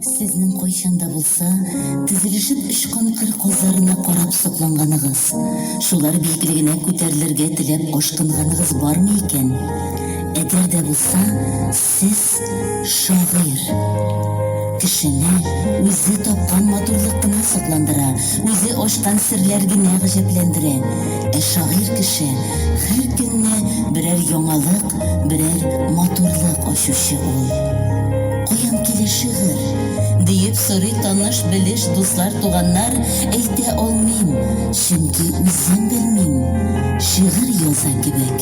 Сезнең кайчанда булса, тезелешеп очкан кыр казларына карап сокланганыгыз, шулар билгеле генә күтәрелергә теләп ашкынганыгыз бармы икән? Әгәр дә булса, Сез, шагыйрь. Кешене үзе тапкан матурлык кына сокландыра, үзе ачкан серләр генә гаҗәпләндерә. Ә шагыйрь кеше, һәр көнне берәр яңалык, берәр матурлык ачучы ул. Каян килә шигырь? диеп сорый таныш-белеш, дуслар, туганнар. Әйтә алмыйм, чөнки үзем белмим. Шигырь яза кебек.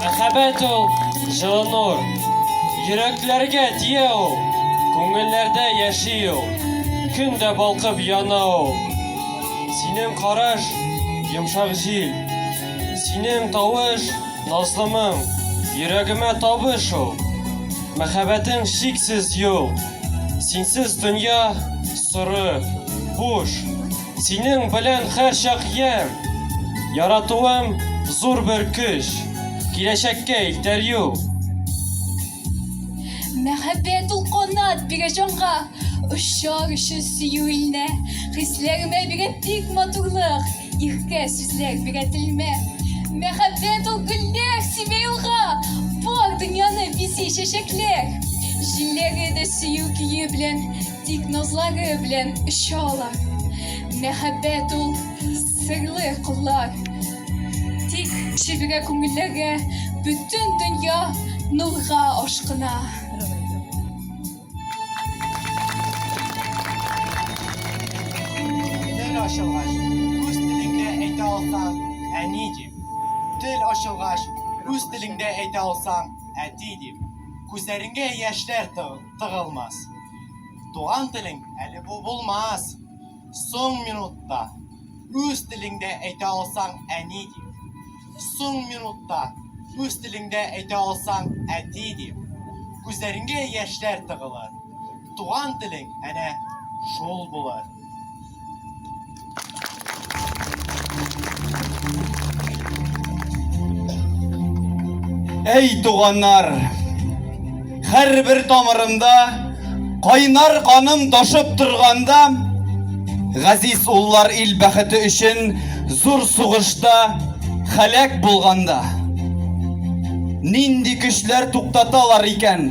Мәхәббәт ул җылы нур, йөрәкләргә тия ул, күңелләрдә яши ул, көн дә балкып яна ул. Синең караш, йомшак җил, синең тавыш, назлымың, йөрәгемә табыш ул. Мәхәббәтең чиксез юл, синсез дөнья соры, буш. Синең белән һәрчак ям. Яратуым зур бер көч. Киләчәккә илтәр юл. Мәхәббәт ул канат бирә җанга, Очар өчен сөю илнә. Хисләремә бирә бик матурлык, Иркә сүзләр бирә телмә. Мәхәббәт ул гөлләр сибә юлга, Бар дөньяны бизи чәчәкләр. Җилләре дә сөю көе белән. Тик назлагы белән оча ала. Мәхәббәт ул серле куллар. Тик чиргә күңелләргә бөтен дөнья нурга ашкына. Тел ачылгач, үз телеңдә әйтә алсаң, әни дип. Тел ачылгач, үз телеңдә әйтә алсаң, әти дип. Күзләреңгә яшьләр тыгыл. тыгылмас. Туган телең әле бу булмас. Соң минутта үз телеңдә әйтә алсаң әни дип. Соң минутта үз телеңдә әйтә алсаң әти дип. Күзләреңгә яшьләр тыгылыр. Туган телең әнә шул булыр. Әй туганнар, һәрбер тамырымда кайнар каным ташып торганда, газиз уллар ил бәхете өчен зур сугышта халәк булганда. Нинди көчләр туктаталар икән?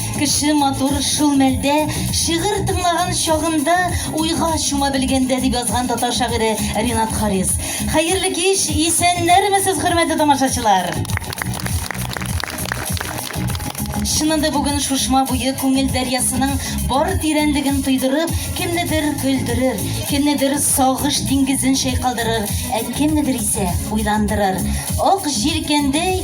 Кеше матур шул мәлдә, шигырь тыңлаган чагында уйга чума белгәндә, дип язган татар шагыйре Ринат Харис. Хәерле кич, исәннәрмесез, хөрмәтле тамашачылар! Чыннан да бүген Шушма буе күңел дәрьясының бар тирәнлеген тойдырып, кемнедер көлдерер, кемнедер сагыш диңгезен чайкалдырыр, ә кемнедер исә уйландырыр. Ак җилкәндәй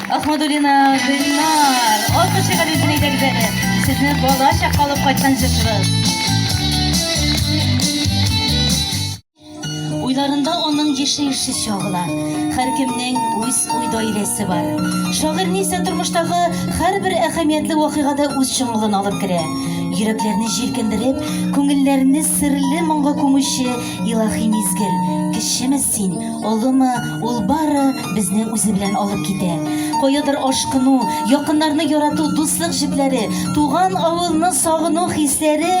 Ахмадулина Гөлнар, алты шигали өчен әйдәгез әле. Сезне бала чак калып кайткан җырчыбыз. Уйларында аның еши еши чагыла. Хәр кемнең үз уй даирәсе бар. Шагыйрь Ниса тормыштагы һәрбер әһәмиятле вакыйгада үз чыңлыгын алып керә. Йөрәкләрне җилкендереп, күңелләрне серле моңга күмүче илаһи мизгел. Кечеме син, олымы, ул бары безне үзе белән алып китә. Каядыр ашкыну, якыннарны ярату, дуслык җепләре, туган авылны сагыну хисләре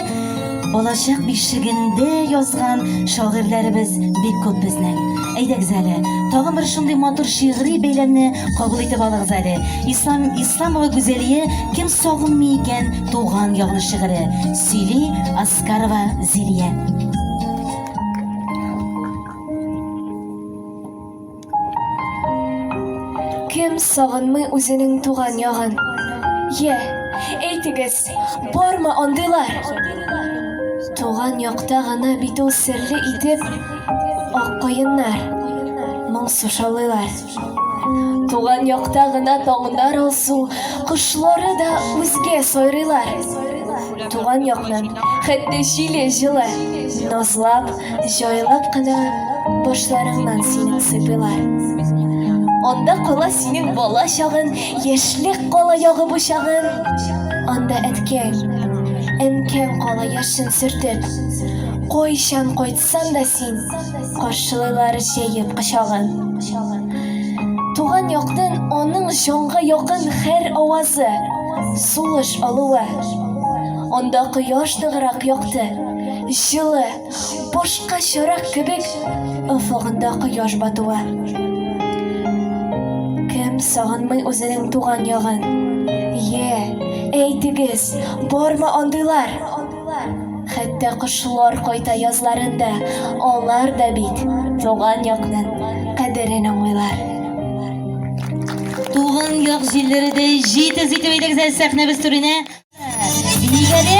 балачак бишегендә язган шагыйрьләребез бик күп безнең. Әйдәгез әле, тагын бер шундый матур шигъри бәйләмне кабул итеп алыгыз әле. Ислам Исламова Гүзәлия кем сагынмый икән туган ягын шигыре. Сөйли Аскарова Зилия. Кем сагынмый үзенең туган ягын? Йә, әйтегез, бармы андыйлар? Туган якта гына бит ул серле итеп ак каеннар моңсу шаулыйлар. Туган якта гына таңнар алсу, кошлары да үзгә сайрыйлар. Туган якны, хәтта җиле җылы, назлап, җайлап кына башларыңнан синең сыйпыйлар. Анда кала синең бала чагын, яшьлек кала ягы бучагын. Анда әткәң, әнкәң кала яшен сөртеп, кайчан кайтсын Ятсаң да син, каршылайлар җәеп кочагын. Туган яктын аның җанга якын хәр авазы, сулыш алуы. Анда кояш ныграк якты, җылы, башка чарак кебек офыгында кояш батуы. Кем сагынмый үзенең туган ягын? Е, әйтегез, бармы андыйлар? Хәтта кошлар кайта язларында, алар да бит туган якның кадерен аңлыйлар. Туган як җилләре дә җитез итеп әйдәгез әле сәхнәбез түренә. Биик әле.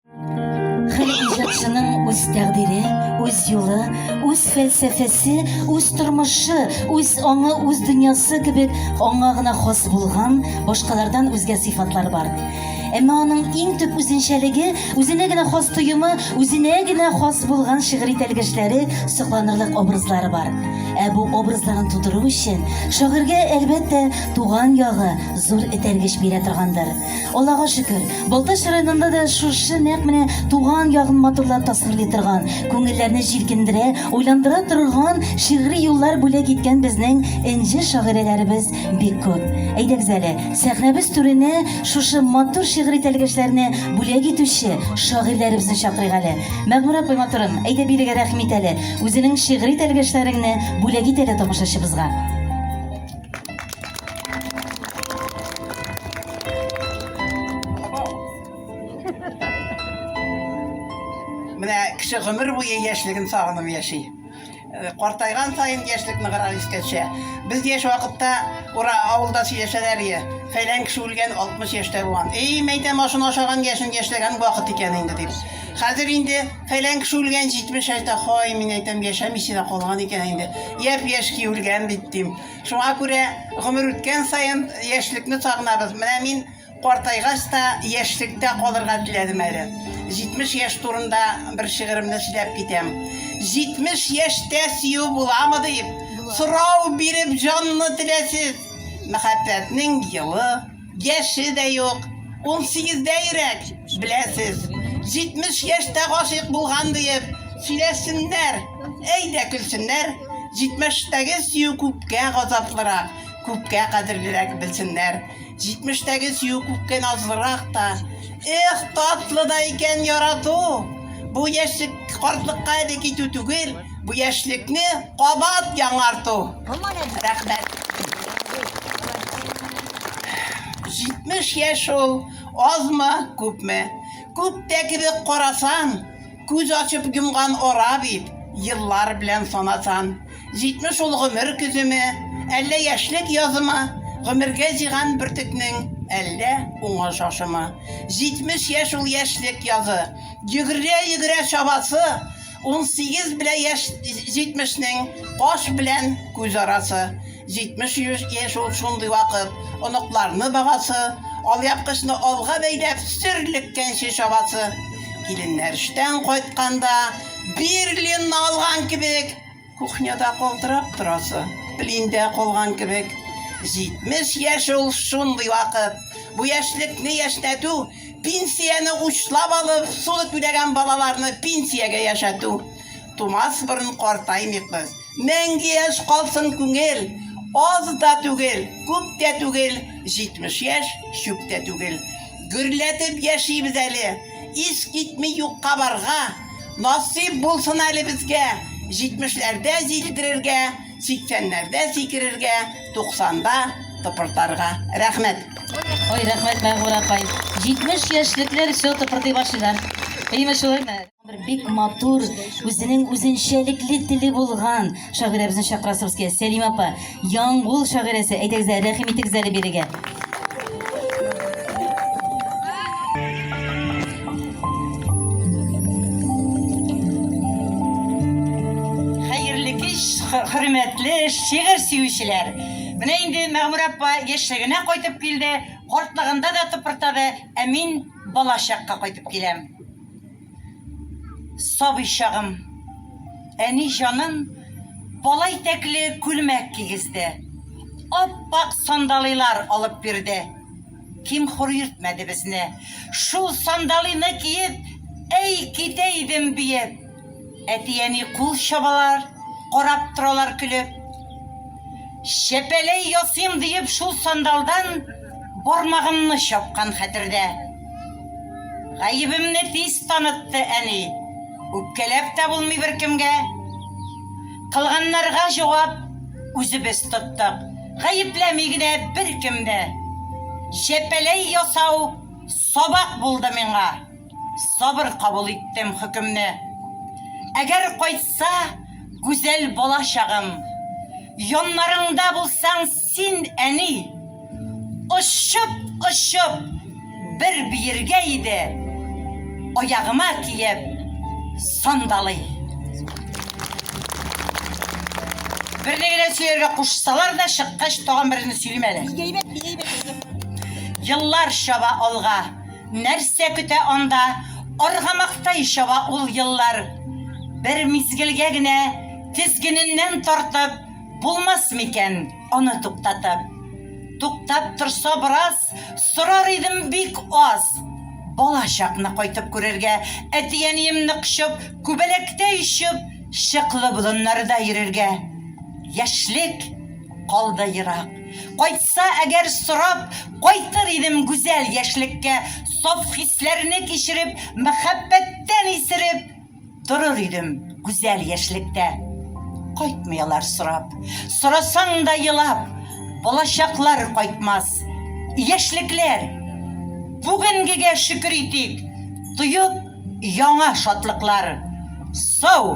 Хәл иҗатчының үз тәкъдире, үз юлы, үз фәлсәфәсе, үз тормышы, үз аңы, үз дөньясы кебек аңа гына хас булган башкалардан үзгә сыйфатлар бар. Әмма аның иң төп үзенчәлеге, үзенә генә хас тоемы, үзенә генә хас булган шигъри тәлгәшләре, сокланырлык образлары бар. Ә бу образларын тудыру өчен шагыйрьгә, әлбәттә, туган ягы зур этәргеч бирә торгандыр. Аллага шөкер, Балтач районында да шушы нәкъ менә туган ягын матурлап тасвирлый торган, күңелләрне җилкендерә, уйландыра торган шигъри юллар бүләк иткән безнең энҗе шагыйрәләребез бик күп. Әйдәгез әле, сәхнәбез түренә шушы матур шигъри тәлгәшләрне бүләк итүче шагыйрьләребезне чакырыйк әле. Мәгъмүрә апай матурым, әйдә бирегә рәхим ит әле, үзенең шигъри тәлгәшләреңне бүләк ит әле тамашачыбызга. Менә кеше гомер буе яшьлеген сагынып яши. Э, картайган сайын яшьлек ныграк искә төшә. Без яшь вакытта ура авылда сөйләшәләр иде. Фәйлән кеше үлгән 60 яшьтә булган. Эй, мәйтәм ашын ашаган яшен яшьләгән вакыт икән инде дип. Хәзер инде Фәлән кеше үлгән, 70 әйтә, хай, мин әйтәм, яшәмичә дә калган икән инде. Япь-яшь ки үлгән бит дим. Шуңа күрә гомер үткән саен яшьлекне сагынабыз. Менә мин картайгач та яшьлектә калырга теләдем әле. 70 яшь турында бер шигыремне сөйләп китәм. 70 яшьтә сөю буламы дип, сорау биреп җанны теләсез. Мәхәббәтнең елы, Яше дә юк, унсигездә йөрәк, беләсез. Җитмеш яшьтә гашыйк булган диеп сөйләсеннәр, әй дә көлсеннәр, җитмештәге сөю күпкә газаплырак, күпкә кадерлерәк белсеннәр. Җитмештәге сөю күпкә назлырак та. Эх, татлы да икән ярату! Бу яшьлек, картлыкка әле китү түгел. Бу яшьлекне кабат яңарту. Рәхмәт. 70 яшь ул, азмы, күпме? Күптә кебек карасан, күз ачып йомган ара бит, еллар белән санасан. 70 ул гомер көземе, әллә яшьлек язымы, гомергә җыйган бөртекнең әллә уңы шашымы. 70 яшь ул яшьлек язы, йөгерә-йөгерә чабасы, 18 белән яшь 70-нең каш белән күз арасы. 70 яшь ул шундый вакыт, оныкларны багасы, алъяпкычны алга бәйләп сөрлеккәнче чабасы. Киленнәр эштән кайтканда, Берлинны алган кебек, Кухняда калтырап торасы, плиндә калган кебек. 70 яшь ул шундый вакыт. Бу яшьлекне яшьнәтү, пенсияне учлап алып, суды түләгән балаларны пенсиягә яшәтү. Тумас борын картаймыйк без. Мәңге яшь калсын күңел! Аз да түгел, күп тә түгел, 70 яшь, чүп тә түгел. Гөрләтеп яшибез әле! Ис китми юкка барга, насыйп булсын әле безгә. Җитмешләрдә җилдерергә, сиксәннәрдә сикерергә, туксанда тыпыртарга. Рәхмәт. Ой, рәхмәт, Мәгъмүр апай. 70 яшьлекләр все тыпырдый башлыйлар. Әйеме шулаймы? Бик матур, үзенең үзенчәлекле теле булган шагыйрәбезне чакырасыбыз килә. Сәлимә апа, Яңгул шагыйрәсе, әйдәгез әле, рәхим итегез әле бирегә. Хәерле кич, хөрмәтле шигырь сөючеләр. Менә инде Мәгмүр апа яшьлегенә кайтып килде, картлыгында да тыпыртады, ә мин балачакка кайтып киләм. Сабый чагым. Әни җаным бала итәкле күлмәк кигезде. Ап-ак сандалыйлар алып бирде. Ким-хур йөртмәде безне. Шул сандалыйны киеп, әй китә идем биеп. Әти-әни кул чабалар, карап торалар көлеп. Чәпәләй ясыйм диеп шул сандалдан бармагымны чапкан хәтердә. Гаебемне тиз танытты әни. Үпкәләп тә булмый беркемгә. Кылганнарга җавап үзебез тоттык. Гаепләми генә беркем дә. Чәпәләй ясау сабак булды миңа. Сабыр кабул иттем хөкемне. Әгәр кайтса гүзәл бала чагым, Яннарыңда булсаң син, әни, Очып-очып бер биергә иде, Аягыма киеп сандалый. Берне генә сөяргә кушсалар да, чыккач тагын берне сөйлим әле. Еллар чаба алга. Нәрсә көтә анда, аргамактай чаба ул еллар. Бер мизгелгә генә тезгененнән тартып, булмас микән аны туктатып. Туктап торса бераз, сорар идем бик аз. Бала чакны кайтып күрергә, әти-әниемне кочып, күбәләктәй очып, чыклы болыннарда йөрергә. Яшьлек калды ерак. Кайтса әгәр сорап, кайтыр идем гүзәл яшьлеккә, саф хисләрне кичереп, мәхәббәттән исереп, торыр идем гүзәл яшьлектә. Кайтмый алар сорап, сорасаң да елап, балачаклар кайтмас. Яшьлекләр, бүгенгегә шөкер итик, тоеп яңа шатлыклар. Сау!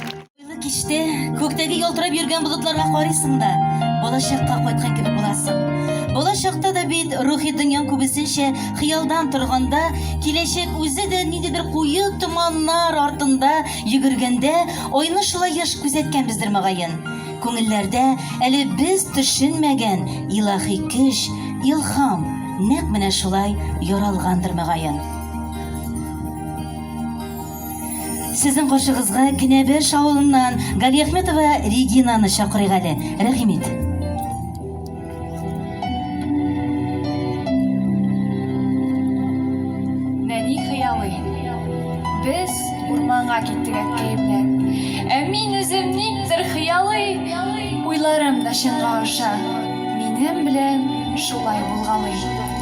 Кичтә күктәге ялтырап йөргән болытларга карыйсың да, балачакка кайткан кебек буласың. Балачакта да бит рухи дөньяң күбесенчә хыялдан торганда, киләчәк үзе дә ниндидер куе томаннар артында йөгергәндә, айны шулай еш күзәткәнбездер мөгаен. Күңелләрдә әле без төшенмәгән илаһи көч, илһам нәкъ менә шулай яралгандыр мөгаен. Сезнең каршыгызга Кенәбеш авылыннан Галиәхметова Регинаны чакырыйк әле. Рәхим ит. Нәни хыялый. Без урманга киттек әткәем белән. Ә мин үзем никтер хыялый, уйларым да чынга аша. Минем белән шулай булгалый.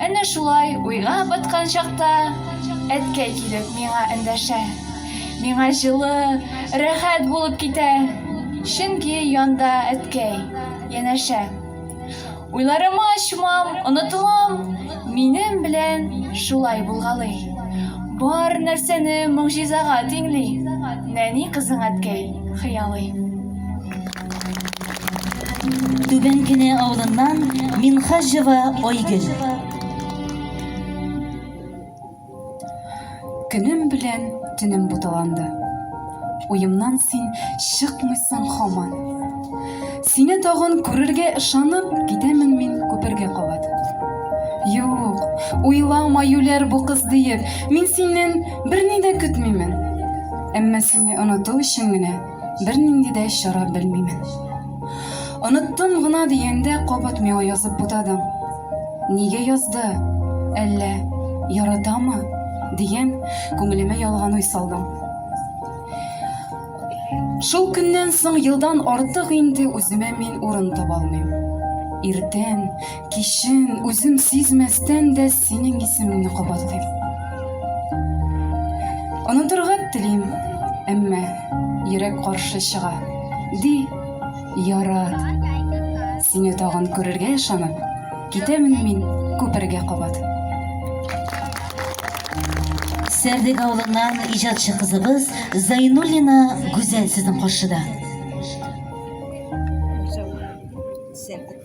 Әнә шулай уйга баткан чакта әткәй килеп миңа эндәшә. Миңа җылы, рәхәт булып китә, чөнки янда әткәй, янәшә. Уйларыма чумам, онытылам, минем белән шулай булгалый. Бар нәрсәне могҗизага тиңли, нәни кызың әткәй хыялый. Түбән Кенә авылыннан Минхаҗева Айгөл. Көнем белән төнем буталанды. Уемнан син чыкмыйсың хаман. Сине тагын күрергә ышанып, китәмен мин күпергә кабат. Юк, уйлама, юләр бу кыз диеп, мин синнән берни дә көтмимен. Әмма сине оныту өчен генә Бер нинди дә чара белмимен. Оныттым гына дигәндә кабат миңа язып бутадың. Нигә язды? Әллә яратамы? дигән күңелемә ялган уй салдың. Шул көннән соң елдан артык инде үземә мин урын таба алмыйм. Иртән, кичен үзем сизмәстән дә Синең исемеңне кабатлыйм. Онытырга телим, әмма йөрәк каршы чыга. Ди, ярар. Сине тагын күрергә ышанып, китәмен мин күпергә кабат. Сәрдек авылыннан иҗатчы кызыбыз Зайнуллина Гүзәл сезнең каршыда.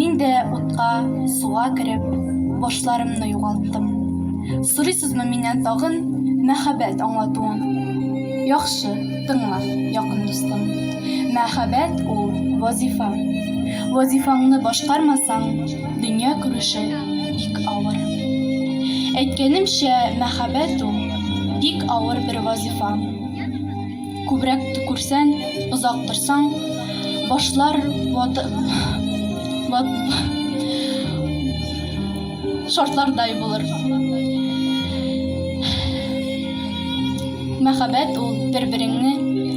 Мин дә утка, суга кереп, башларымны югалттым. Сорыйсызмы миннән тагын мәхәббәт аңлатуын? Яхшы, тыңла, якын дустым. Мәхәббәт ул, вазифа. Вазифаңны башкармасаң, дөнья күрүче бик авыр. Әйткәнемчә, мәхәббәт ул, бик авыр бер вазифа. Күбрәк төкерсәң, озак торсаң, башлар ватып, шартлардай булыр. Мәхәббәт ул, бер-береңне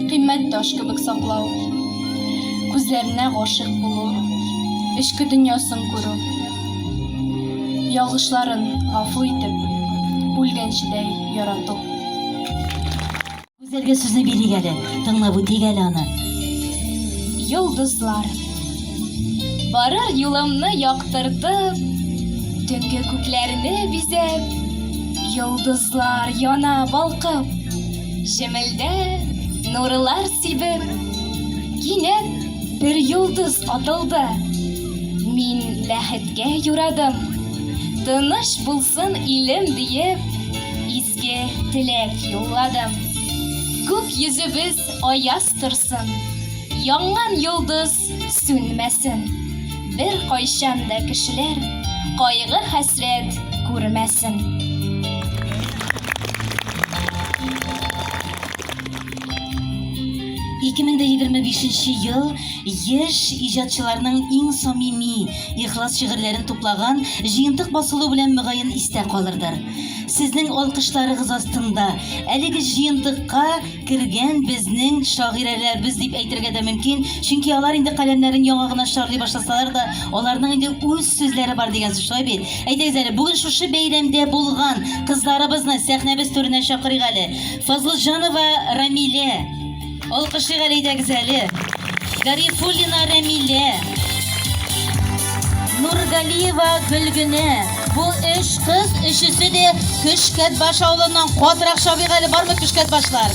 кыйммәт таш кебек саклау, күзләренә гашыйк булу, эчке дөньясын күрү, ялгышларын гафу итеп, үлгәнчедәй ярату. Гүзәлгә сүзне бирик әле. Тыңлап үтик әле аны. Йолдызлар. Барыр юлымны яктыртып, Төнге күкләрне бизәп, Йолдызлар яна балкып, Җемелдә нурлар сибеп. Кинәт бер йолдыз атылды, Мин бәхеткә юрадым. Тыныч булсын илем диеп, Исән-сау кайтып килдем. Сезгә теләк юлладым. Күк йөзебез аяз торсын, янган йолдыз сүнмәсен, беркайчан да кешеләр кайгы-хәсрәт күрмәсен. 2025 нче ел яшь иҗатчыларның иң самими, ихлас шигырьләрен туплаган җыентык басылу белән мөгаен истә калырдыр. Сезнең алкышларыгыз астында әлеге җыентыкка кергән безнең шагыйрәләрбез дип әйтергә дә мөмкин, чөнки алар инде каләмнәрен яңа гына чарлый башласалар да, аларның инде үз сүзләре бар дигән сүз шулай бит? Әйдәгез әле, бүген шушы бәйрәмдә булган кызларыбызны сәхнәбез түренә чакырыйк әле. Фазлытҗанова Рамилә. Алкышлыйк әле идегез әле. Гарифуллина Рәмилә. Нургалиева Гөлгенә. Бу өч кыз өчесе дә Көшкәт баш авылыннан катырак чабыйк әле бармы Көшкәт башлар?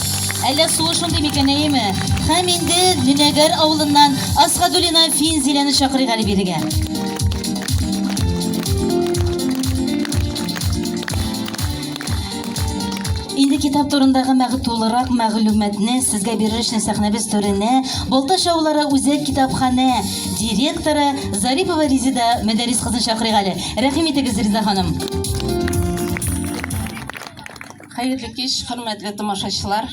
Әллә суы шундый микән, әйеме? Һәм инде Нөнәгәр авылыннан Асхадуллина Финзиләне чакырыйк әле бирегә. Инде китап турындагы мәгы тулырак мәгълүматны сезгә бирер өчен сәхнәбез түренә Балта шаулары үзәк китапханә директоры Зарипова Резида Мәдәрис кызын чакырыйк әле. Рәхим итегез, Резида ханым. Хәерле кич, хөрмәтле тамашачылар!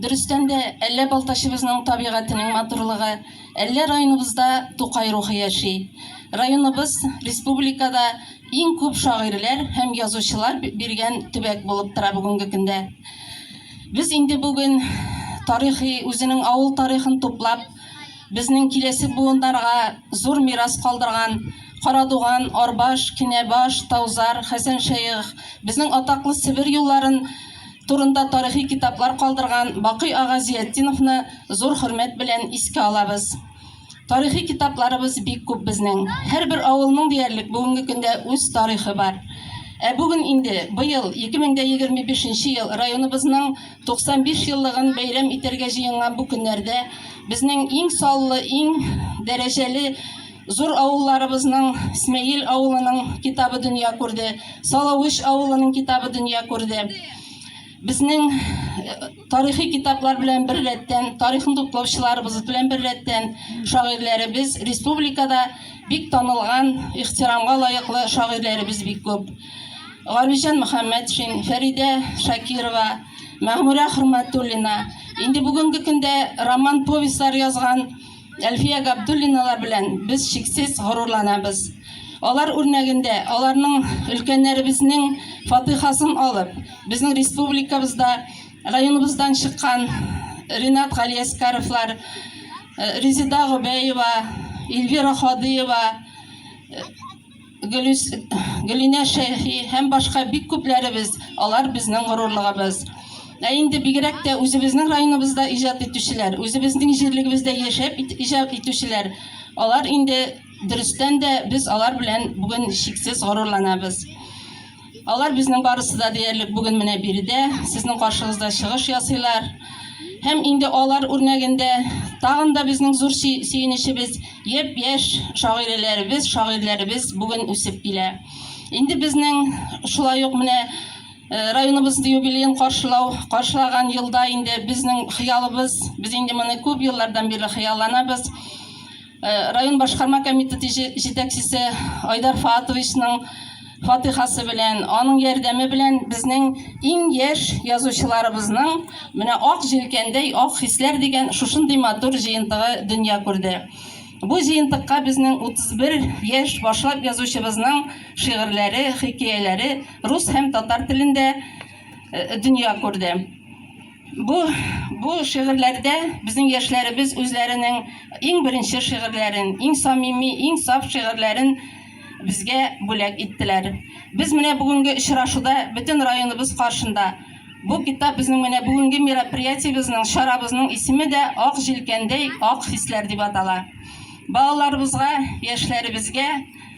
Дөрестән дә, әллә Балтачыбызның табигатенең матурлыгы, әллә районыбызда Тукай рухы яши. Районыбыз республикада Иң күп шагыйрьләр һәм язучылар биргән төбәк булып тора бүгенге көндә. Без инде бүген тарихи үзенең авыл тарихын туплап, безнең киләсе буыннарга зур мирас калдырган Карадуган, Арбаш, Кинәбаш, Таузар, Хәсәншәех, безнең атаклы Себер юлларын турында тарихи китаплар калдырган Бакый ага Зиятдиновны зур хөрмәт белән искә алабыз. Тарихи китапларыбыз бик күп безнең. Һәрбер авылның диярлек бүгенге көндә үз тарихы бар. Ә бүген инде, быел, 2025 нче ел, районыбызның 95 еллыгын бәйрәм итәргә җыенган бу көннәрдә безнең иң саллы, иң дәрәҗәле зур авылларыбызның, Смәел авылының китабы дөнья күрде, Салавыч авылының китабы дөнья күрде. Безнең Тарихи китаплар белән бер рәттән, тарихны туплаучыларыбыз белән бер рәттән, шагыйрьләребез республикада бик танылган, ихтирамга лаеклы шагыйрьләребез бик күп. Галиҗан Мөхәммәтшин, Фәридә Шакирова, Мәгъмүрә Хөрмәтуллина, инде бүгенге көндә роман-повестьлар язган Әлфия Габдуллиналар белән без чиксез горурланабыз. Алар үрнәгендә, аларның өлкәннәребезнең фатыйхасын алып, безнең республикабызда, районыбыздан чыккан Ринат Галиәскаровлар, э, Резеда Гобәева, Эльвира Хадыева, э, Гөлинә Шәйхи һәм башка бик күпләребез, алар безнең горурлыгыбыз. Ә инде бигрәк тә үзебезнең районыбызда иҗат итүчеләр, үзебезнең җирлегебездә яшәп иҗат итүчеләр, алар инде дөрестән дә без алар белән бүген чиксез горурланабыз. Алар безнең барысы да диярлек бүген менә биредә, сезнең каршыгызда чыгыш ясыйлар. Һәм инде алар үрнәгендә тагын да безнең зур сөенечебез, япь-яшь шагыйрәләребез, шагыйрьләребез бүген үсеп килә. Инде безнең шулай ук менә э, районыбыз юбилеен каршылау, каршылаган елда инде безнең хыялыбыз, без инде моны күп еллардан бирле хыялланабыз. Э, район башкарма комитеты җитәкчесе Айдар Фатовичның фатихасы белән, аның ярдәме белән безнең иң яшь язучыларыбызның менә ак җилкәндәй ак хисләр дигән шушындый матур җыентыгы дөнья күрде. Бу җыентыкка безнең 31 яшь башлап язучыбызның шигырьләре, хикәяләре рус һәм татар телендә э, дөнья күрде. Бу бу шигырьләрдә безнең яшьләребез үзләренең иң беренче шигырьләрен, иң самими, иң саф шигырьләрен безгә бүләк иттеләр. Без менә бүгенге очрашуда бөтен районыбыз каршында бу китап безнең менә бүгенге мероприятиебезнең, чарабызның исеме дә Ак җилкәндәй ак хисләр дип атала. Балаларыбызга, яшьләребезгә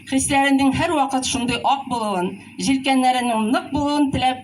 хисләренең һәрвакыт шундый ак булуын, җилкәннәренең нык булуын теләп,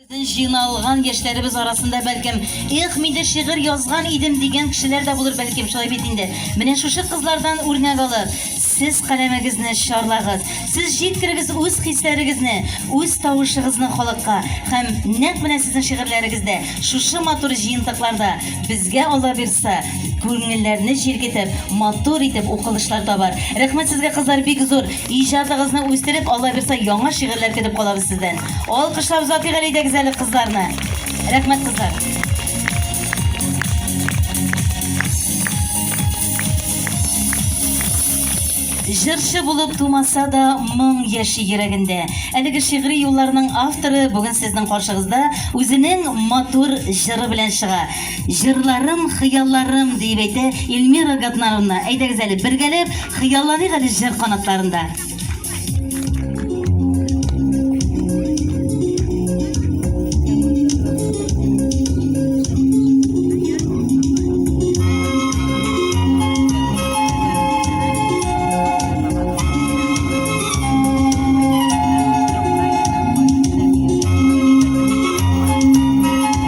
Безнең җыйналган яшьләребез арасында, бәлкем, Эх, мин дә шигырь язган идем дигән кешеләр дә булыр, бәлкем, шулай бит инде. Менә шушы кызлардан үрнәк алып, сез каләмегезне чарлагыз, сез җиткерегез үз хисләрегезне, үз тавышыгызны халыкка һәм нәкъ менә сезнең шигырьләрегездә, шушы матур җыентыкларда, безгә, Алла бирса, күңелләрне җиргетеп, матур итеп укылышлар табар. Рәхмәт сезгә, кызлар, бик зур! Иҗатыгызны үстереп, Алла бирса, яңа шигырьләр көтеп калабыз сездән. Алкышлап озатыйк әле идегез әле кызларны. Рәхмәт кызлар. Җырчы булып тумаса да, моң яши йөрәгендә. Әлеге шигъри юлларның авторы бүген сезнең каршыгызда үзенең матур җыры белән чыга. Җырларым, хыялларым, диеп әйтә Ильмира Гатнарвна. Әйдәгез әле, бергәләп хыялланыйк әле җыр канатларында.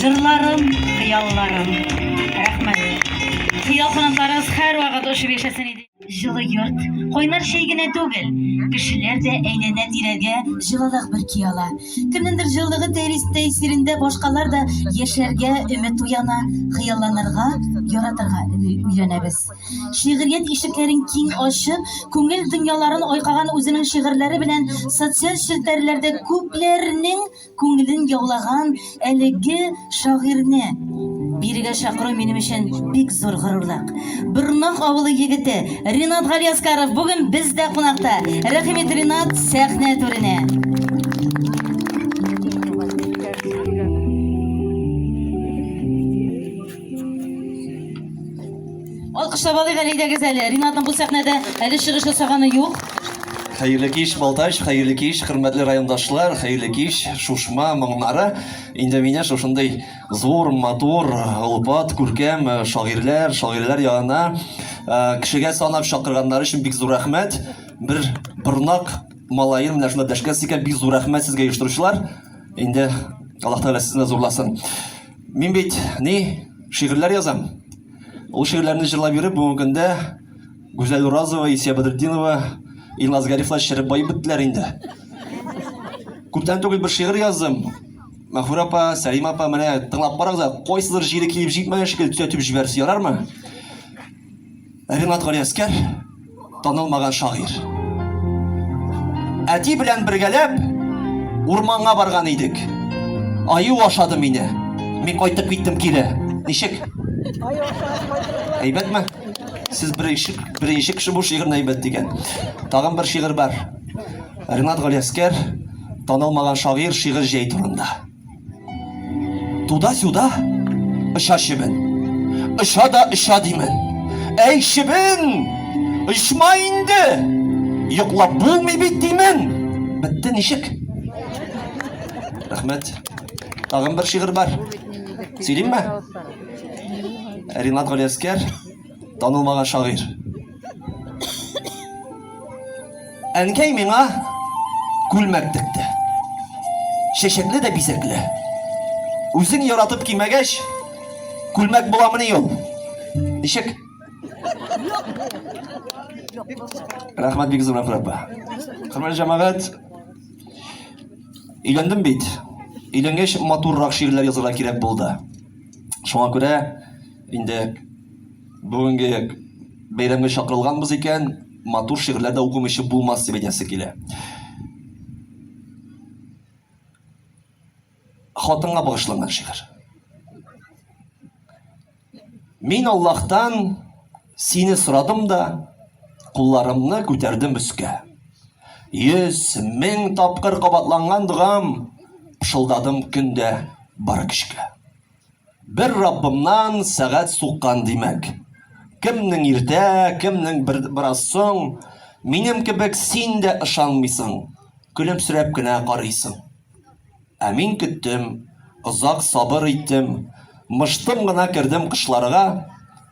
Җырларым, хыялларым. Рәхмәт. Хыял кунакларыгыз һәрвакыт очып яшәсен иде. Җылы йорт, кайнар чәй генә түгел, кешеләр дә әйләнә-тирәгә җылылык бөрки ала. Кемнеңдер җылылыгы тәэсирендә башкалар да яшәргә өмет уяна, хыялланырга, яратырга өйрәнәбез. Шигърият ишекләрен киң ачып, күңел дөньяларын айкаган үзенең шигырьләре белән социаль челтәрләрдә күпләрнең күңелен яулаган әлеге шагыйрьне бирегә чакыру минем өчен бик зур горурлык. Бырнак авылы егете Ринат Галиаскаров бүген бездә кунакта. Рәхимет Ринат сәхнә түренә. Алкышлап алыйк әле идегез әле. Ринатның бу сәхнәдә әле чыгыш ясаганы юк. Хәерле кич, Балтач, хәерле кич, хөрмәтле райондашлар, хәерле кич, Шушма моңнары. Инде менә шушындый зур, матур, олпат, күркәм э, шагыйрьләр, шагыйрьләр янына э, кешегә санап чакырганнар өчен бик зур рәхмәт. Бер борнак малаен менә шунда дәшкәс икән, бик зур рәхмәт сезгә оештыручылар. Инде Аллаһ Тәгалә сезне зурласын. Мин бит ни шигырьләр язам. Ул шигырьләрне җырлап йөреп бүгенге көндә Гүзәл Уразова, Исия Бәдретдинова, Илназ Гарифлар череп баеп беттеләр инде. Күптән түгел бер шигырь яздым. Мәхүрә апа, Сәлим апа, менә тыңлап карагыз, кайсыдыр җире килеп җитмәгән шикелле төзәтеп җибәрсә ярармы? Ренат Галиәскәр танылмаган шагыйрь. Әти белән бергәләп урманга барган идек. Аю ашады мине. Мин кайтып киттем кире. Ничек? Әйбәтме? Сез беренче беренче кеше бу шигырьне әйбәт дигән. Тагын бер шигырь бар. Ренат Галиәскәр танылмаган шагыйрь шигырь җәй турында. Туда-сюда оча чебен. Оча да оча димен. Әй, чебен! Очма инде! Йоклап булмый бит димен. Бетте ничек? Рәхмәт. Тагын бер шигырь бар. Сөйлимме? Ринат Галиәскәр Танылмаган шагыйрь. Әнкәй миңа күлмәк текте. Чәчәкле дә бизәкле. Үзең яратып кимәгәч, күлмәк буламыни ул? Ничек? Рәхмәт бик зур апа. Хөрмәтле җәмәгать, өйләндем бит. Өйләнгәч матуррак шигырьләр язарга кирәк булды. Шуңа күрә Инде бүгенге бәйрәмгә чакырылганбыз икән, матур шигырьләр дә укымыйча булмас дип әйтәсе килә. Хатынга багышланган шигырь. Мин Аллаһтан сине сорадым да, кулларымны күтәрдем өскә. Йөз мең тапкыр кабатланган догам, пышылдадым көндә бар көчкә. Бер Раббымнан сәгать суккан димәк. Кемнең иртә, кемнең бер, бераз соң, минем кебек син дә ышанмыйсың, көлемсерәп кенә карыйсың. Ә мин көттем, озак сабыр иттем, мыштым гына кердем кышларга,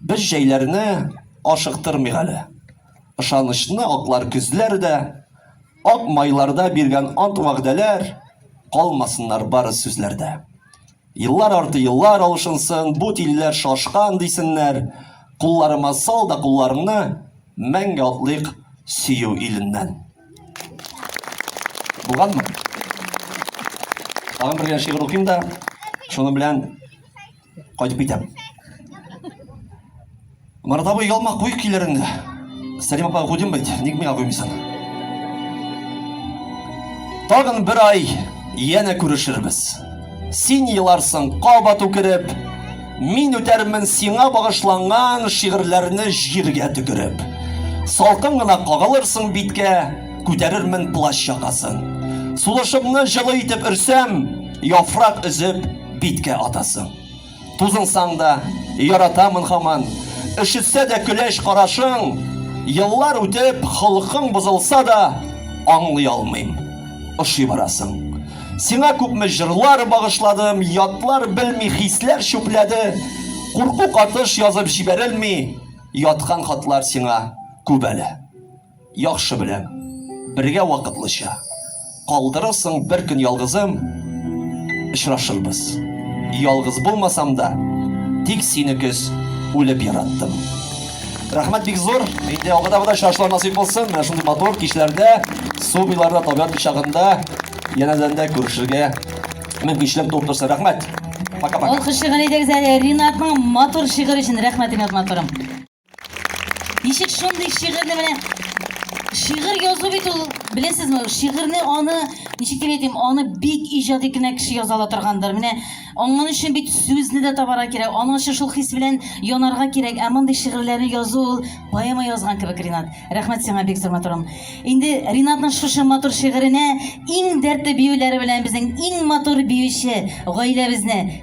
Без җәйләрне ашыктырмыйк әле. Ышанычны аклар көзләр дә, Ак майларда биргән ант-вәгъдәләр Калмасыннар бары сүзләрдә. Еллар арты еллар алышынсын, Бу тилеләр шашкан, дисеннәр. Кулларыма сал да кулларыңны, Мәңге атлыйк сөю иленнән. Булганмы? Тагын бер генә шигырь укыйм да, шуның белән Кайтып китәм. Марат абый, ялма куй көйләреңне. Сәлим апа куйдым бит, ник миңа куймыйсың? Тагын бер ай янә күрешербез. Син еларсың кабат үкереп, мин үтәрмен сиңа багышланган шигырьләрне җиргә төкереп. Салкын гына кагылырсың биткә, күтәрермен плащ якасын. Сулышымны җылы итеп өрсәм, яфрак өзеп, Биткә атасың. Тузынсаң да, яратамын хаман. Өшетсә дә көләч карашың. Еллар үтеп, холкың бозылса да, аңлый алмыйм. Ошый барасың. Сиңа күпме җырлар багышладым, ятлар белми хисләр чүпләде. Курку катыш язып җибәрелми яткан хатлар сиңа күп әле. Яхшы беләм, бергә вакытлыча Калдырырсың бер көн ялгызым, Очрашырбыз. Ялгыз булмасам да, Тик сине көз үлеп яраттым. Рәхмәт бик зур! Инде алда да очрашулар насыйп булсын, менә шундый матур кичләрдә, су буйларында, табигать кочагында, янәдән дә күрешергә мөмкинчелек туып торсын. Рәхмәт! Пока-пока! Алкышлыйк әнидәгез әле Ринатның матур шигырь өчен. Рәхмәт, Ринат матурым! Ничек шундый шигырьне менә шигырь язу бит ул, беләсезме, шигырьне аны, ничек дип әйтим, аны бик иҗади генә кеше яза ала торгандыр. Менә аңның өчен бит сүзне дә табара кирәк, аның өчен шул хис белән янарга кирәк. Ә мондый шигырьләрне язу ул поэма язган кебек, Ринат. Рәхмәт сиңа бик зур матурым. Инде Ринатның шушы матур шигыренә иң дәртле биюләре белән безнең иң матур биюче гаиләбезне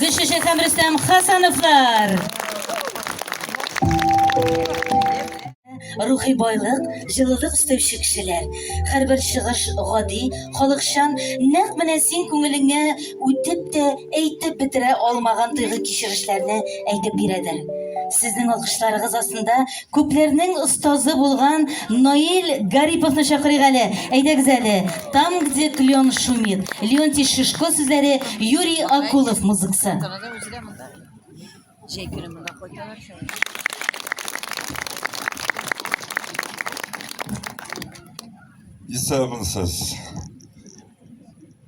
Гөлчәчәк һәм Рөстәм Хасановлар. Рухи байлык, җылылык өстәүче кешеләр. Һәрбер чыгыш гади, халыкчан, нәкъ менә син күңелеңә үтеп тә әйтеп бетерә алмаган тойгы кичерешләрне әйтеп бирәдер. Сезнең алкышларыгыз астында Күпләрнең остазы булган Наил Гариповны чакырыйк әле. Әйдәгез әле. Там, где клен шумит. Леонтий Шишко сүзләре, Юрий Акулов музыкасы. Җәй көне монда кайталар Исәнмесез.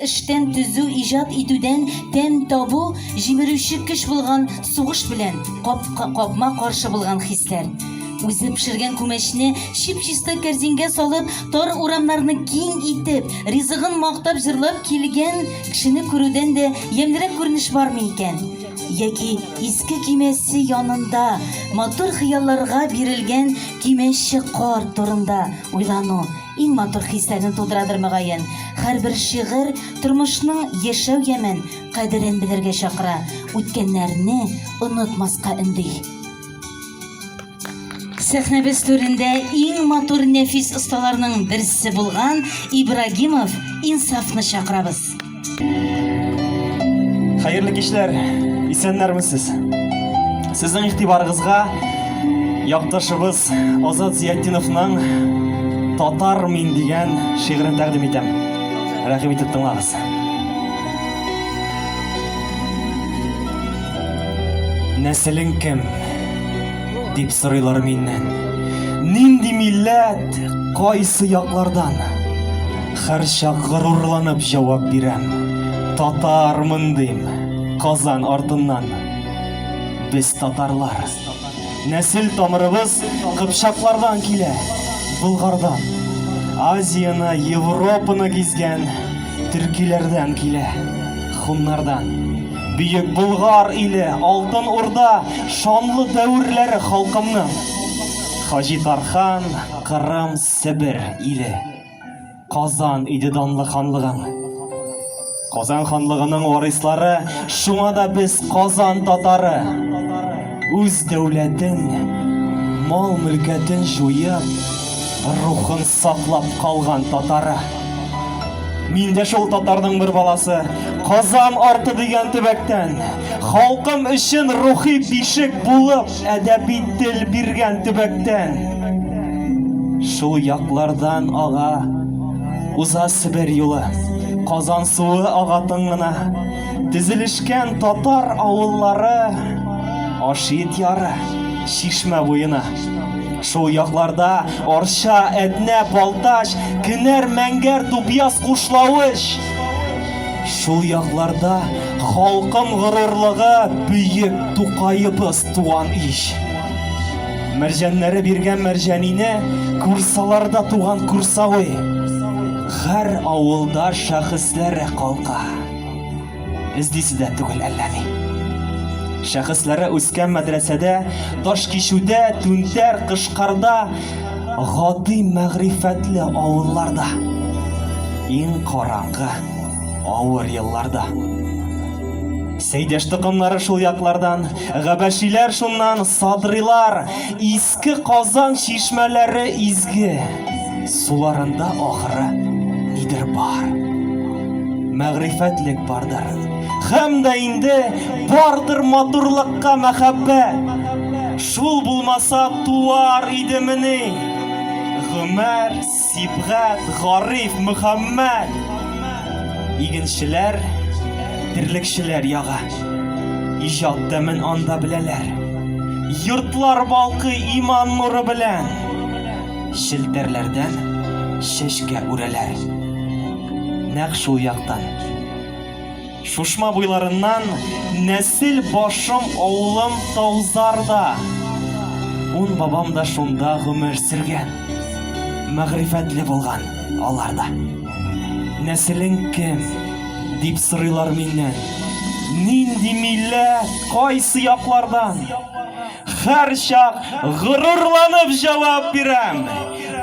эштән төзү, иҗат итүдән тәм табу җимерүче көч булган сугыш белән капма-каршы булган хисләр. Үзе пешергән күмәчне чип-чиста кәрзингә салып, Тар урамнарны киң итеп, ризыгын мактап җырлап килгән кешене күрүдән дә ямьлерәк күренеш бармы икән? Яки иске кимәсе янында матур хыялларга бирелгән кимәче кар турында уйлану иң матур хисләрне тудырадыр мөгаен. Һәрбер шигырь тормышның яшәү ямен, кадерен белергә чакыра, үткәннәрне онытмаска өнди. Сәхнәбез түрендә иң матур нәфис осталарның берсе булган Ибрагимов Инсафны чакырабыз. Хәерле кичләр, исәннәрмесез? Сезнең игътибарыгызга якташыбыз Азат Зиятдиновның Татар мин дигән шигырен тәкъдим итәм. Рәхим итеп тыңлагыз. Нәселең кем? дип сорыйлар миннән. Нинди милләт, кайсы яклардан? Хәрчак горурланып җавап бирәм. Татармын дим, Казан артыннан. Без татарлар. Нәсел тамырыбыз кыпчаклардан килә, Болгардан. Азияны, Европаны гизгән төркиләрдән килә, хуннардан. Бөек Болгар иле, Алтын Урда, шанлы дәверләре халкымның. Хаҗи Тархан, Кырым, Себер иле. Казан иде данлы ханлыгың. Казан ханлыгының варислары, шуңа да без Казан татары. Үз дәүләтен, мал-мөлкәтен җуеп, рухын саклап калган татары. Мин дә шул татарның бер баласы. Казан арты дигән төбәктән. Халкым өчен рухи бишек булып, әдәби тел биргән төбәктән. Шул яклардан ага уза Себер юлы. Казан суы ага тыңына. Тезелешкән татар авыллары Ашит яры, Чишмә буена. Шул якларда Арча, Әтнә, Балтач, Кенәр, Мәңгәр, Дубъяз, Кушлавыч. Шул якларда халкым горурлыгы бөек Тукаебыз туган ич. Мәрҗәннәре биргән мәрҗәнине Курсаларда туган курсавый. Хәр авылда шәхесләре калка. Без дисез дә түгел әллә ни. Шәхесләре үскән мәдрәсәдә, таш кичүдә, түнтәр, кышкарда, гади мәгърифәтле авылларда, иң караңгы, авыр елларда. Сәйдәш токымнары шул яклардан, габәшиләр шуннан, садрилар, Иске Казан чишмәләре изге, суларында ахыры нидер бар. Мәгърифәтлек бардыр. Хәм дә инде бардыр матурлыкка мәхәббәт. Шул булмаса туар идемени? Гомәр Сибгат, Гариф, Мөхәммәт! Игенчеләр, терлекчеләр ягы. Иҗат тәмен анда беләләр. Йортлар балкый иман нуры белән. Челтәрләрдән чәчкә үрәләр. Нәкъ шул яктан. Шушма буйларыннан нәсел башым авылым Таузарда. Ун бабам да шунда гомер сөргән. Мәгърифәтле булган алар да. Нәселең кем? дип сорыйлар миннән. Нинди милләт, кайсы яклардан? Һәрчак горурланып җавап бирәм,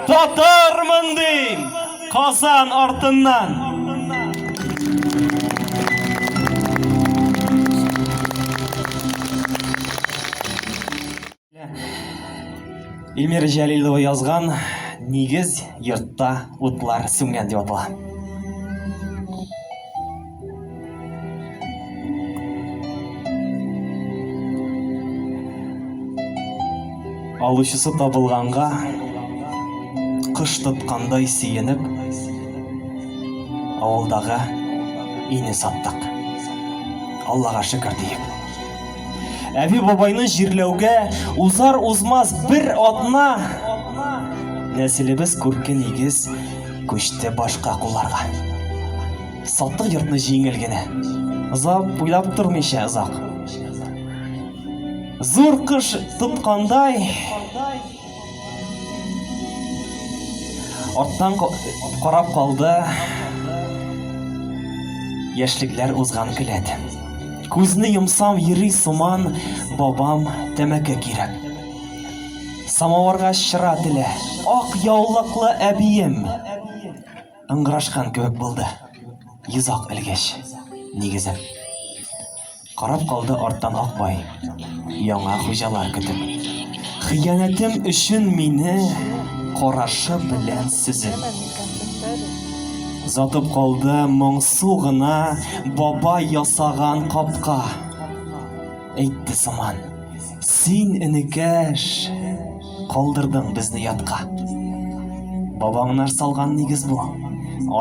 Татармын дим! Казан артыннан! Эльмира Җәлилова язган Нигез йортта утлар сүнгән дип атала. Алучысы табылганга кыш тоткандай сөенеп, авылдагы ине саттык. Аллага шөкер диеп. Әби бабайны җирләүгә узар узмас бер атна нәселебез күрке нигез күчте башка кулларга. Саттык йортны җиңел генә. Озак уйлап тормыйча озак. Зур кыш тоткандай. Арттан карап калды. Яшьлекләр узган келәт. Күзне йомсам йөри сыман бабам тәмәке кирәк. Самавырга чыра телә. Ак яулыклы әбием. Ыңгырашкан кебек булды. Йозак элгеч, нигезем. Карап калды арттан Акбай. Яңа хуҗалар көтеп. Хыянәтем өчен мине карашы белән сөзеп. Затып калды моңсу гына бабай ясаган капка. Әйтте сыман. Син, энекәш, Калдырдың безне ятка. Бабаңнар салган нигез бу.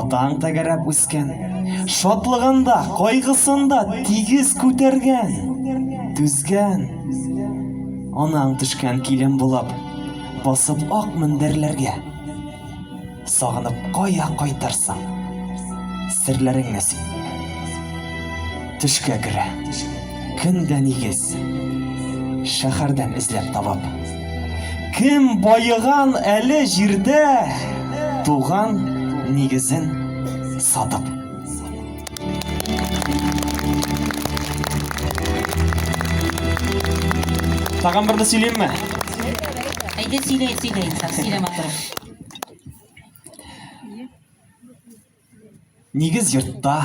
Атаң тәгәрәп үскән. Шатлыгында, кайгысында тигез күтәргән, түзгән. Анаң төшкән килен булып, басып ак мендәрләргә. Сагынып кая кайтырсың? Серләрең нәсип. Төшкә керә. Көн дә нигез. Шәхәрдән эзләп табып. Кем баеган әле җирдә туган нигезен сатып. Тагын берне сөйлимме? Әйдә сөйлә, сөйлә инсаф, сөйлә матур. Нигез йортта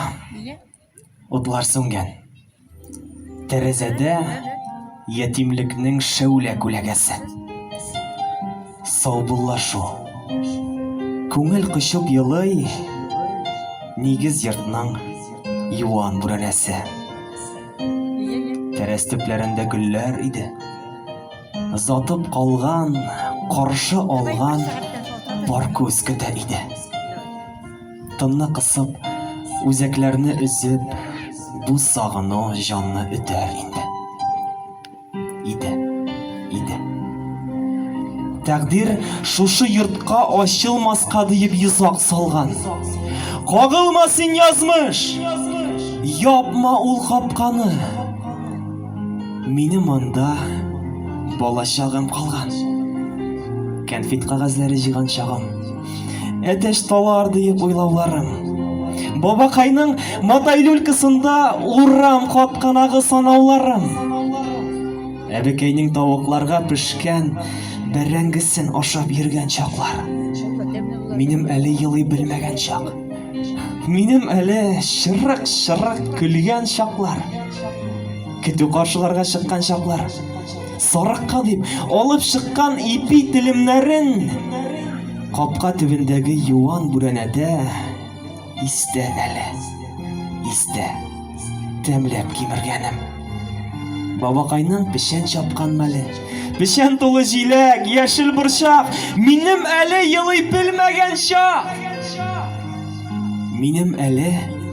утлар сүнгән. Тәрәзәдә ятимлекнең шәүлә күләгәсе. Саубуллашу. Күңел кочып елый нигез йортның юан бүрәнәсе. Тәрәз төпләрендә гөлләр иде. Сатып калган, каршы алган бар күз көтә иде. Тынны кысып, үзәкләрне өзеп, бу сагыну җанны үтәр инде. Иде, иде. Тәкъдир шушы йортка ачылмаска диеп йозак салган. Кагылма син язмыш! Япма ул капканы! Мине монда балачагым калган. Кәнфит кагазләре җыйган чагым. Әтәч талар диеп уйлауларым. Бабакайның матай люлькасында урам капканагы санауларым. Әбекәйнең тавыкларга пешкән бәрәңгесен ашап йөргән чаклар. Минем әле елый белмәгән чак. Минем әле чырык-чырык көлгән чаклар. Көтү каршыларга чыккан чаклар. Сарыкка дип алып чыккан ипи телемнәрен капка төбендәге юан бүрәнәдә истә әле. Истә. Тәмләп кимергәнем. Бабакайның печән чапкан мәле. Печән тулы җиләк, яшел борчак. Минем әле елый белмәгән чак. Минем әле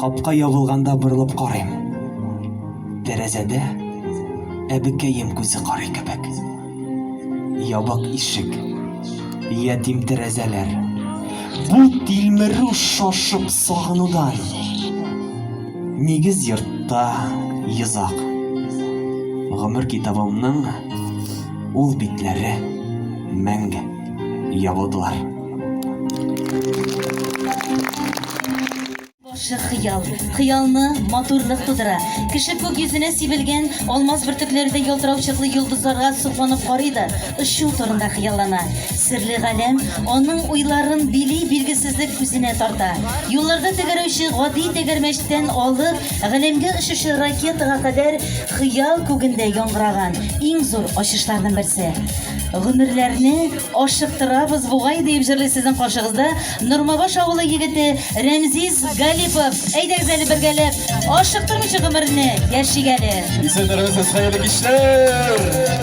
Капка ябылганда борылып карыйм. Тәрәзәдә әбекәем күзе карый кебек. Ябык ишек. Ятим тәрәзәләр. Бу тилмерү шашып сагынудан. Нигез йортта йозак. Гомер китабымның ул битләре мәңге. ябылдылар. Башы хыял, хыялны матурлык тудыра. Кеше күк йөзенә сибелгән алмаз бөртекләрдәй ялтырау чыклы йолдызларга сокланып карый да, очу турында хыяллана. Серле галәм аның уйларын били, билгесезлек үзенә тарта. Юлларда тәгәрәүче гади тәгәрмәчтән алып, галәмгә очучы ракетага кадәр хыял күгендә яңгыраган иң зур ачышларның берсе. Гомерләрне ашыктырабыз бугай, диеп җырлый сезнең каршыгызда Нормабаш авылы егете Рәмзиз Галипов. Әйдәгез әле бергәләп, ашыктырмыйча гомерне яшик әле. Исәннәрмесез, хәерле кичләр!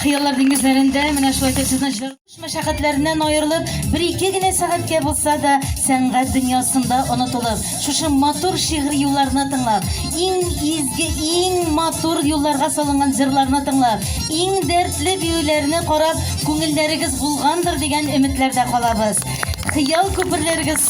Хыяллар диңгезләрендә менә шулай итеп сезнең җырлыш мәшәкатьләреннән аерылып, бер-ике генә сәгатькә булса да сәнгать дөньясында онытылып, шушы матур шигъри юлларны тыңлап, иң изге, иң матур юлларга салынган җырларны тыңлап, иң дәртле биюләрне карап, күңелләрегез булгандыр дигән өметләрдә калабыз. Хыял күперләрегез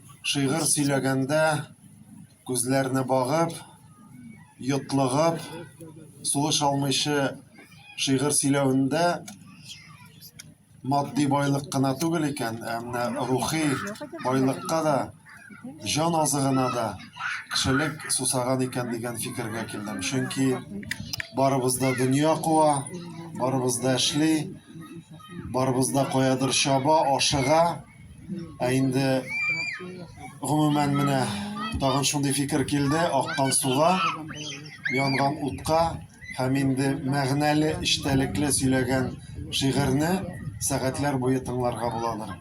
Шигырь сөйләгәндә күзләрне багып, йотлыгып, сулыш алмыйча шигырь сөйләвендә матди байлык кына түгел икән, ә менә рухи байлыкка да, җан азыгына да кешелек сусаган икән дигән фикергә килдем. Чөнки барыбыз да дөнья куа, барыбыз да эшли, барыбыз да каядыр чаба, ашыга. Ә инде гомумән менә тагын шундый фикер килде, аккан суга, янган утка һәм инде мәгънәле, эчтәлекле сөйләгән шигырьне сәгатьләр буе тыңларга буладыр.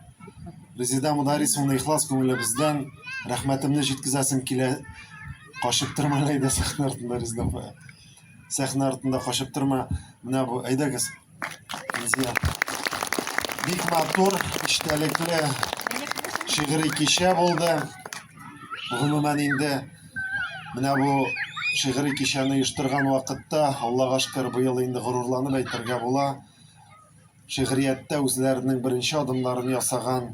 Резеда Мударисовна ихлас күңелебездән рәхмәтемне җиткезәсем килә. Качып торма Ләйдә сәхнә артында Резеда апа. Сәхнә артында качып торма. Менә бу, әйдәгез. Безгә бик матур, эчтәлекле шигъри кичә булды. Гомумән инде менә бу шигъри кичәне оештырган вакытта, Аллага шөкер, быел инде горурланып әйтергә була. Шигърияттә үзләренең беренче адымнарын ясаган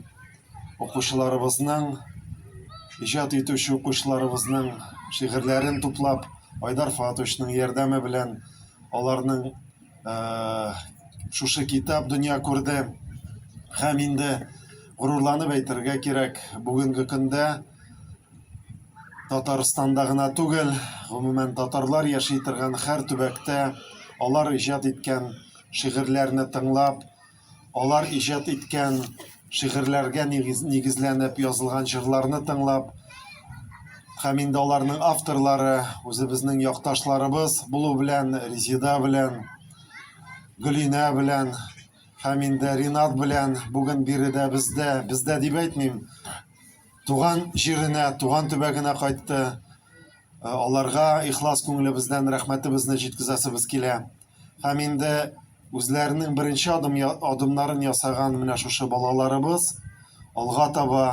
укучыларыбызның, иҗат итүче укучыларыбызның шигырьләрен туплап, Айдар Фатовичның ярдәме белән аларның шушы китап дөнья күрде һәм инде горурланып әйтергә кирәк бүгенге көндә татарстанда гына түгел гомумән татарлар яши торган һәр төбәктә алар иҗат иткән шигырьләрне тыңлап Алар иҗат иткән шигырьләргә нигезләнеп язылган җырларны тыңлап, һәм инде аларның авторлары үзебезнең якташларыбыз булу белән Резида белән, Гөлинә белән һәм инде Ринат белән бүген биредә бездә, бездә дип әйтмим, туган җиренә, туган төбәгенә кайтты. Аларга ихлас күңелебездән рәхмәтебезне җиткезәсебез килә. Һәм инде үзләренең беренче адым, адымнарын ясаган менә шушы балаларыбыз алга таба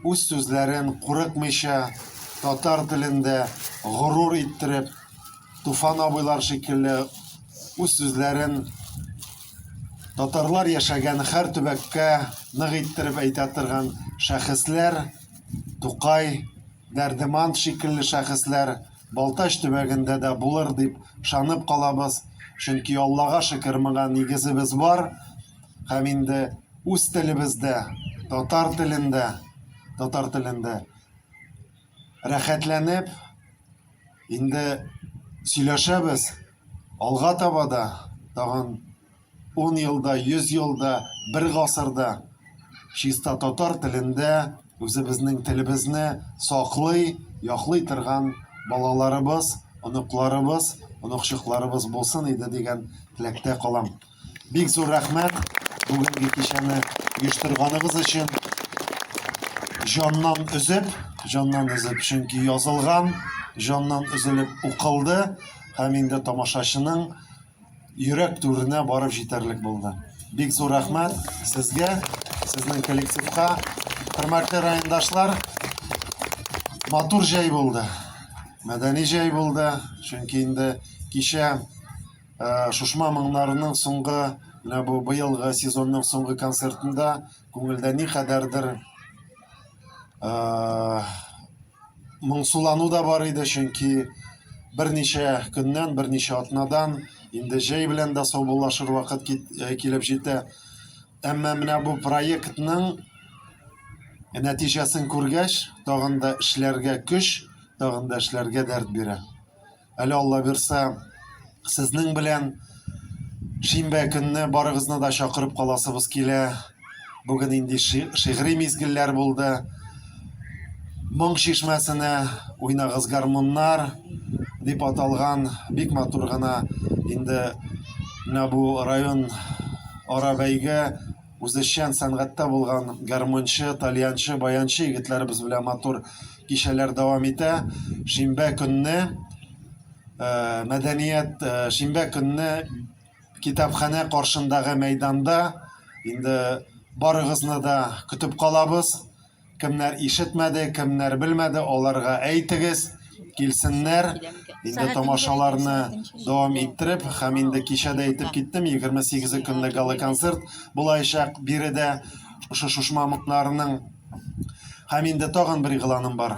үз сүзләрен курыкмыйча татар телендә горур иттереп Туфан абыйлар шикелле үз сүзләрен татарлар яшәгән һәр төбәккә нык иттереп әйтә торган шәхесләр Тукай Дәрдеман шикелле шәхесләр Балтач төбәгендә дә булыр дип ышанып калабыз, чөнки Аллага шөкер, моңа нигезебез бар. Һәм инде үз телебездә, татар телендә, татар телендә рәхәтләнеп инде сөйләшәбез. Алга таба да тагын Ун елда, йөз елда, бер гасырда чиста татар телендә үзебезнең телебезне саклый, яклый торган балаларыбыз, оныкларыбыз, оныкчыкларыбыз булсын иде дигән теләктә калам. Бик зур рәхмәт бүгенге кичәне оештырганыгыз өчен. Җаннан өзеп, җаннан өзеп, чөнки язылган, җаннан өзелеп укылды һәм инде тамашачының Йөрәк түренә барып җитәрлек булды. Бик зур рәхмәт сезгә, сезнең коллективка. Хөрмәтле райондашлар, матур җәй булды. Мәдәни җәй булды, чөнки инде кичә э, Шушма моңнарының соңгы менә бу быелгы сезонның соңгы концертында күңелдә никадәрдер э, моңсулану да бар иде, чөнки берничә көннән, берничә атнадан инде җәй белән дә саубуллашыр вакыт э, килеп җитә. Әмма менә бу проектның нәтиҗәсен күргәч, тагын да эшләргә көч, тагын да эшләргә дәрт бирә. Әле Алла бирсә, сезнең белән шимбә көнне барыгызны да чакырып каласыбыз килә. Бүген инде шигъри мизгелләр булды. Моң чишмәсенә уйнагыз гармуннар дип аталган бик матур гына инде менә бу район ара бәйге Үзешчән сәнгатьтә булган гармунчы, тальянчы, баянчы егетләребез белән матур кичәләр дәвам итә. Шимбә көнне э, мәдәният, э, шимбә көнне китапханә каршындагы мәйданда инде барыгызны да көтеп калабыз. Кемнәр ишетмәде, кемнәр белмәде, аларга әйтегез, килсеннәр. Инде тамашаларны дәвам иттереп, һәм инде кичә дә әйтеп киттем, 28 көнлек гала-концерт булаячак биредә, шушы Шушмамыкнарның. Һәм инде тагын бер игъланым бар.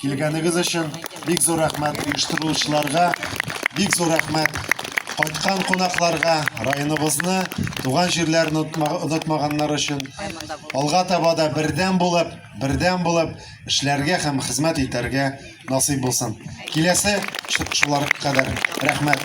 Килгәнегез өчен бик зур рәхмәт оештыручыларга, бик зур рәхмәт кайткан кунакларга, районыбызны, туган җирләрен онытмаганнар өчен. Алга таба да бердәм булып, бердәм булып эшләргә һәм хезмәт итәргә насыйп булсын. Киләсе шулар кадәр рәхмәт.